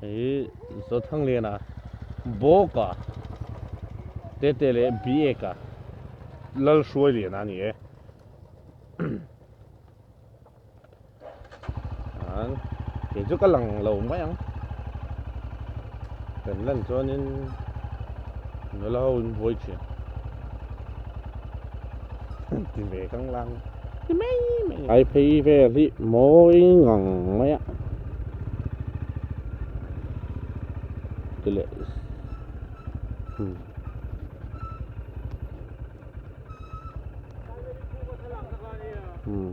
Hei Zo Thanglena bawka Tete leh Bieka Lalhruai liana a ni e. Chuan kei chu ka lang lo mai ang. Kan lan chuanin nula ho in buai thin. ti ve kang lang ti mai mai ai phei vel hi mawi ngang mai a ti leh hmm hmm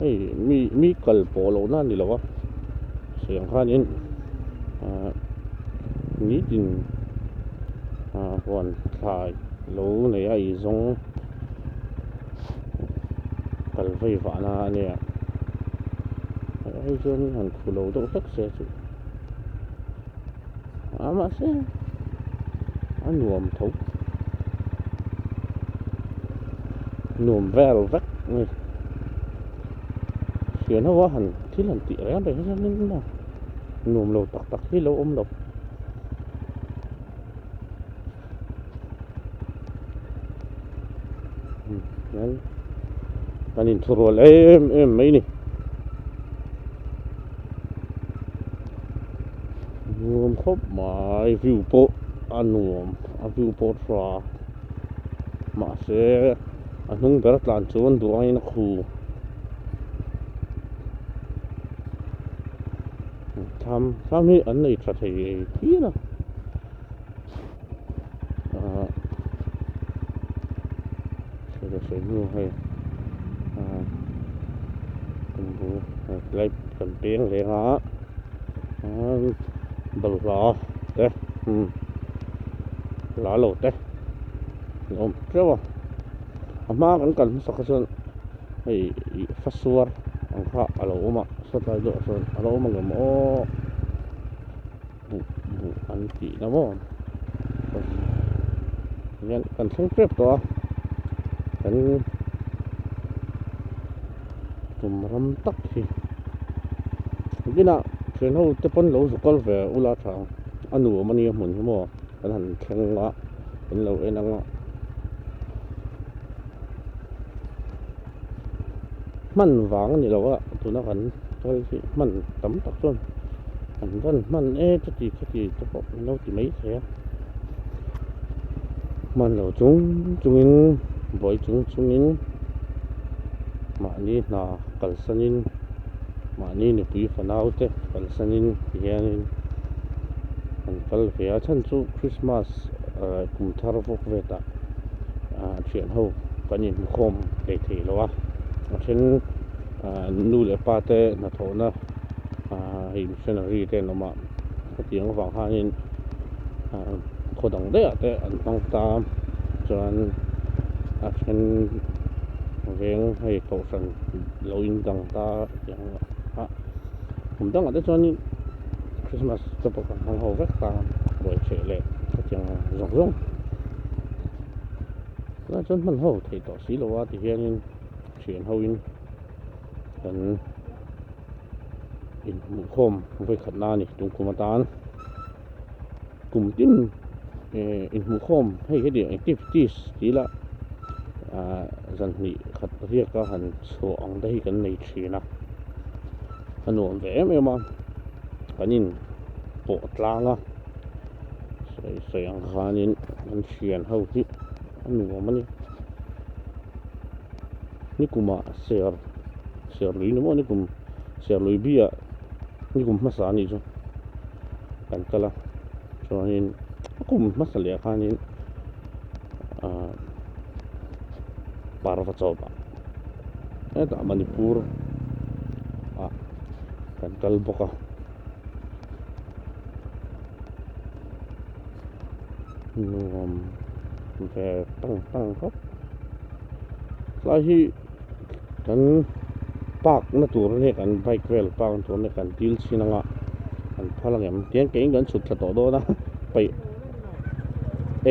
hei mi mi kal pawh loh na ni lo a siam khanin ah nitin ah huan thlai lo nei a izawng kal vaivah na a nia hei chuan han khuh lo deuh hlek se chu. a mahse a nuam tho nuam vel vek ni hian ho a han thil han tih reng reng hian in maw nuam lo tak tak hi lo awm lo. kan in thu rual em em mai ni nuam khawp mai view pawh a nuam a view pawh hra mahse a hnung ber tlan chuan duaina khu tham tham hi an nei tha thei thil a ah sawi tak sawi hnu hei ah kan bu tlai kan peng ve nga ah balhla te umm la lo te ni awm teuh a a hma kan kal hmasa kha chuan hei fasuar ang kha a lo awm a satlai deuhah sawn a lo awm angemaw. hmuh hmuh an tih na maw hian kan thleng tep tawh a kan kum ram tak hi bina thian ho te pawn lo zukal ve ula tha a nuam ania hmun hi maw kan han thleng a kan lo en ang a hman vang a ni lo a tuna kan sawi hi hman tam tak chuan an rawn hman e chu tih kha tih te pawh an lo ti mai thei a hman lo chung chung in buai chung chung in mahni hna kalsan in mahni nupui fanau te kalsan in ti hian in an kal ve a a then chu Christmas kum thar vawk vet ah. a thian ho kan in hmu khawm thei thei lo a a then nu leh pa te hnathawhna hei missionary te an awm a hetiang avang hianin khaw dang deuh ah te an hmang ta a chuan a then veng hei kohhran lo in dang ta a. kum dangah te chuan in christmas te pawh kan hmang ho vek ta buai chheh leh hetiang zawng zawng tunah chuan hman ho thei tawh si lo a ti hian in thian ho in kan inhmuh khawm vawi khat na a ni tun kum atan. kum tin eh inhmuh khawm hei hi ania activities tih ila ah zan hnih khat riaka han chhuah ang te hi kan nei thin a a nuam ve em em a kan in pawh tlang a sawi sawi ang khanin kan thian ho hi a nuam a ni nikuma ser serlui ni maw nikum serlui bia nikum hmasa anih chu. kan kal a chuanin a kum hmasa leh khanin ah parva chawp ah hetah manipur ah kan kal bawk a nuam ve tang tang khawp tlai hi kan park na tur nge kan bike vel park na tur nge kan dil chhin anga kan phal ang em tiang keng in kan chhut thla tawh dawn a paih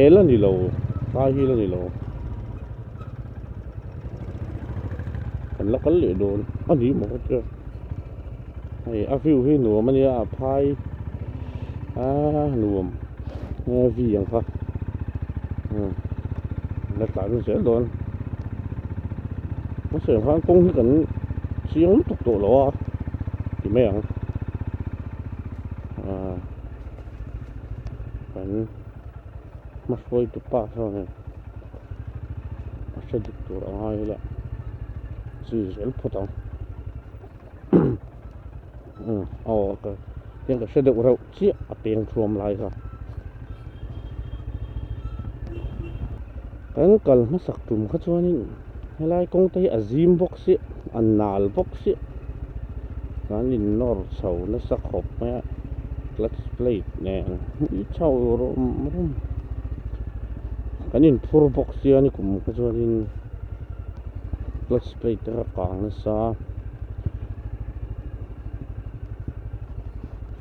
el a ni lo fahil a ni lo kan la kal leh dawn a nih maw ka tia. Hei a view hi nuam ania a phai aa nuam nge vi ang kha hmm la tlan a zel dawn mase ang khan kawng hi kan chiang lutuk tawh lo a ti mai ang aa kan hmasawi tu pa chuan a hre dik tur a ngai ila chi zel phawt ang aw ka hian ka hre deuh reuh chiah a peng thuam lai kha kan kal hmasak tum kha chuanin helai kawng te hi a zim bawk chiah a nal bawk chiah kan ignore chho nasa khawp mai a clutch plate nen hui chho rawh rum rum kan inphur bawk sia ni kum kha chuanin. clutch plate a kang nasa a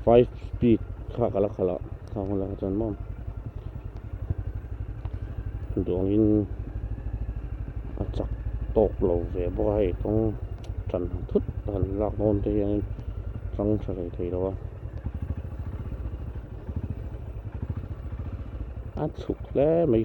five speed kha ka la khalh a kha hun la chan mawn duangin a chak tawk lo ve bawk a hei kawng chan thut a han lak dawn te hianin chang tha rei thei lo a a chhuk hle mai.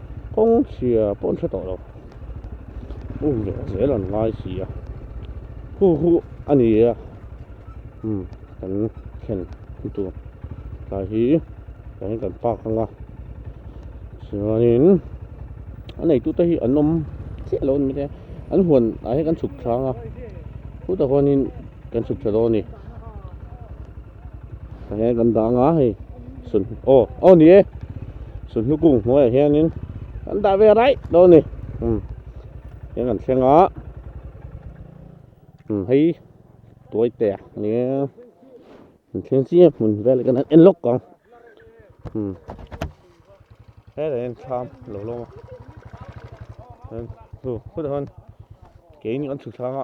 kawng chhia pawh an hre tawh lo u ve zel an ngai si a hu hu a ni a umm kan thlen hmu tur tlai hi eng kan park ang a chuanin a nei tute hi an awm chiah lo a ni maithei a an huan ah hi kan chhuk thlang a hu tah huanin kan chhuk tha dawn a ni. Heng kan dah anga hei sun aw aw ni e sunhnu kung hnuaiah hianin kan dah ve raih dawn ni um heng kan thleng a um hei tuai te a ni e kan thleng chiang hmun vel kan en lawk ang um hei kan en tham lo lo a hei chu khutah chuan keini kan chhuk thlanga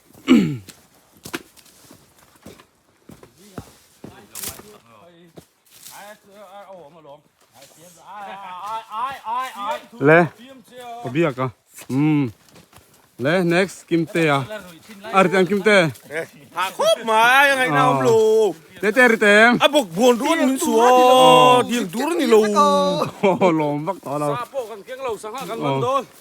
le biak a um le next kim te a ar tang kim te ha khop mai ngai na um lo te te ri te a bok bon ruan min su o diang dur ni lo lom vak ta lo sa po kan keng lo sang ha kan man don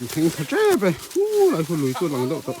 An theng tha tep e. Hu lai hu lui chu lang deuh tawh.